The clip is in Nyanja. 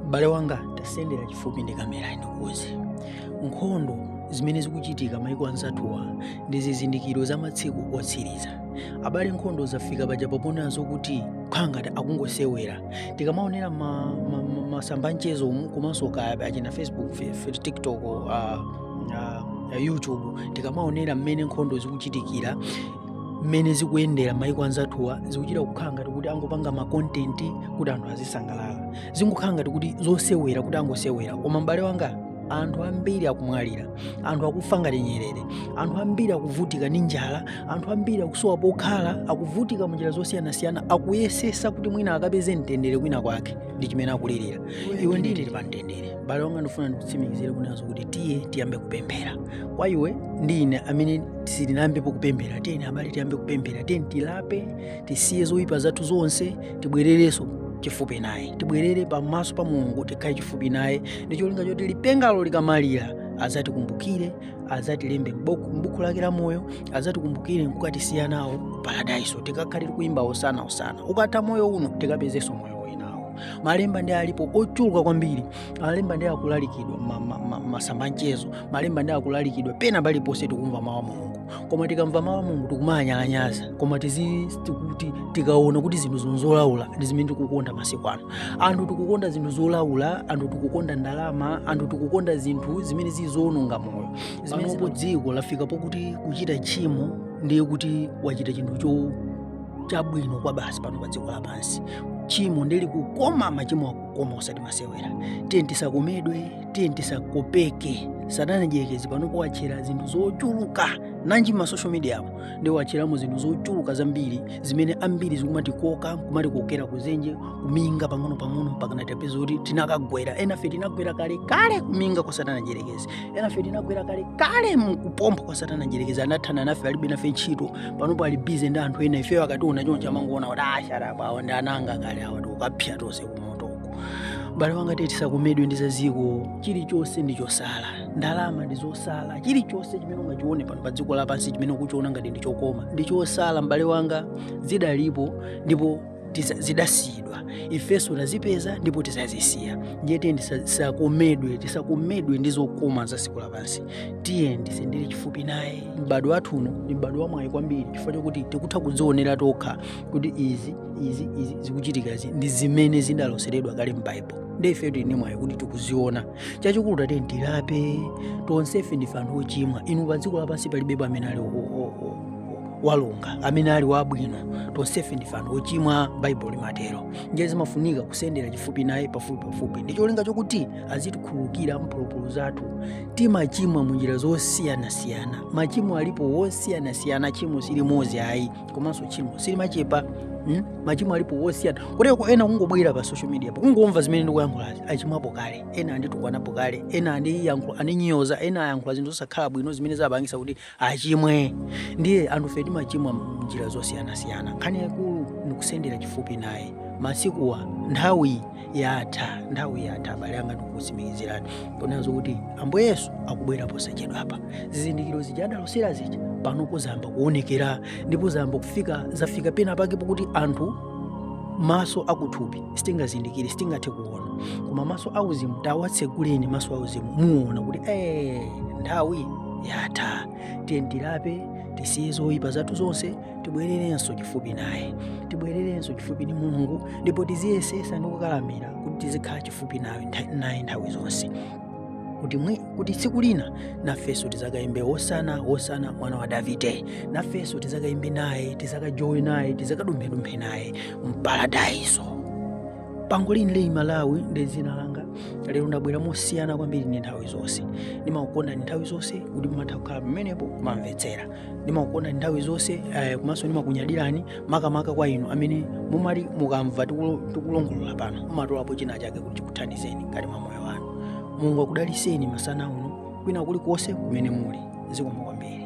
M'bale wanga, tasendera chifupi ndi kamera ndikuuze. Nkhondo zimene zikuchitika maiko anzathuwa ndi zizindikiro za matsiku otsiriza. Abale, nkhondo zafika pa panopo nazo kukhala ngati akungosewera. Tikamaonera ma, ma, ma, masamba anchezo komanso kaya achina Facebook, fe- fe- TikTok, uh, uh, YouTube tikamaonera mmene nkhondo zikuchitikira mmene zikuyendera maiko anzathuwa zikuchita kukhala ngati kuti angopanga makontenti kuti anthu azisangalala zingokhala ngati kuti zosewera kuti angosewera koma m'bale wanga anthu ambiri akumwalira anthu akufa ngati nyerere anthu ambiri akuvutika ndi njala anthu ambiri akusowa pokhala akuvutika mu njira zosiyanasiyana akuyesesa kuti mwina akapeze mtendere kwina kwake ndi chimene akulirira iwe ndine tili pa mtendere m'bale wanga ndifuna ndikutsimikizire kunazo kuti tiye tiyambe kupemphera kwa iwe ndi ine amene sitinayambepo kupemphera tiyeni abale tiyambe kupemphera tiyeni tilape tisiye zoyipa zathu zonse tibwererenso chifupi naye tibwerere pamaso pa mulungu tikhale chifupi naye ndi cholinga choti lipengalo likamalira azatikumbukire azatilembe m'buku m'buku lake la moyo azatikumbukire nkukatisiya nawo paradaiso tikakhale tikuyimba hosana hosana ukatha moyo uno tikapezenso moyo malemba ndi alipo ochuluka kwambiri malemba ndi akulalikidwa masamba a mchezo malemba ndi akulalikidwa pena paliponse tikumva mawu a mulungu koma tikamva mawu a mulungu tikumawanyalanyaza koma tikaona kuti zinthu zon- zolaula ndi zimene tikukonda masiku ano anthu tikukonda zinthu zolaula anthu tikukonda ndalama anthu tikukonda zinthu zimene zili zowononga moyo zimene dziko lafika pokuti kuchita tchimo ndiye kuti wachita chinthu cho chabwino kwabasi pano pa dziko lapansi tchimo ndi likukoma machimo akukoma osati masewera tiye tisakomedwe tiye tisakopeke satana mdyerekezi panopo watchera zinthu zochuluka nanji ma social media apo ndi watcheramo zinthu zochuluka zambiri zimene ambiri zikumatikoka kumatikokera kudzenje kuminga pang'ono pang'ono mpakana tapeza kuti tinakagwera enafe tinagwera kale kale kuminga kwa satana mdyerekezi enafe tinagwera kale kale m'kuphompho kwa satana mdyerekezi anathana nafe alibe nafe ntchito panopo ali busy ndi anthu ena ifeyo akationa choncho amangoona kuti asharapa awa ndi ana anga kale awa tikapsa tonse kumotoko m'bale wanga tiye tisakomedwe ndi zadziko chilichonse ndi chotsala ndalama ndi zotsala chilichonse chimene ungachione pano pa dziko lapansi chimene ukuchiona ngati ndi chokoma ndi chotsala m'bale wanga zidalipo ndipo tiza- zidasiyidwa ifenso tazipeza ndipo tizazisiya ndiye tiyeni tisakomedwe tisakomedwe ndi zokoma za dziko lapansi tiyeni tisendere chifupi naye m'badwo wathu uno ndi m'badwo wamwayi kwambiri chifukwa chokuti tikutha kudzionera tokha kuti izi izi izi zikuchitikazi ndi zimene zidaloseredwa kale m'baibulo ndiye ife tili ndi mwayi kuti tikuziona chachikulu tiyeni tilape tonsefe ndife anthu ochimwa inu pa dziko lapansi palibepo amene ali o- o- o- wolungama amene ali wabwino tonsefe ndife anthu ochimwa baibulo limatero ndiye zimafunika kusendera chifupi naye pafupi pafupi ndi cholinga chokuti azitikhululukira mphulupulu zathu timachimwa munjira zosiyanasiyana machimo alipo osiyanasiyana tchimo silimodzi ayi komanso tchimo silimachepa mm? machimo alipo osiyana kotero ena kungobwera pa social mediapo kungomva zimene ndikuyankhulazi achimwapo kale ena anditukwanapo kale ena andiyankhula andinyoza ena ayankhula zinthu zosakhala bwino zimene zapangitsa kuti achimwe ndiye anthufe timachimwa mnjira zosiyanasiyana nkhani yaikulu ndikusendera chifupi naye masikuwa nthawi yatha nthawi yatha abale anga ndikukutsimikizirani pomwe pano kuti ambuye yesu akubwera posachedwapa zizindikiro zija adalosera zija panopo zayamba kuonekera ndipo zayamba kufika zafika pena pake pokuti anthu maso akuthupi sitingazindikire sitingathe kuona koma maso auzimu tawatseguleni maso auzimu muona kuti ee nthawi yatha tiyeni tilape tisiye zoyipa zathu zonse tibwererenso chifupi naye tibwererenso chifupi ndi mulungu ndipo tiziyesetsa ndi kukakamira kuti tizikhala chifupi naye ntha- naye nthawi zonse kuti mwi kuti tsiku lina nafenso tizakayimbe wosana wosana mwana wa davide nafenso tizakayimbe naye tizakajowe naye tizakadumphedumphe naye mparadaiso pango lini leyi malawi ndi dzina langa lero ndabwera mosiyana kwambiri ndi nthawi zonse ndimakukondani nthawi zonse kuti mumatha kukhala pamenepo kumamvetsera ndimakukondani nthawi zonse eh, komanso ndimakunyadirani makamaka kwa inu amene mumati mukamva tikulo- tikulongolola pano mumatolapo china chake kuti chikuthandizeni ngati mwa moyo wanu mulungu akudalitseni masana uno kwina kulikonse kumene muli zikomo kwambiri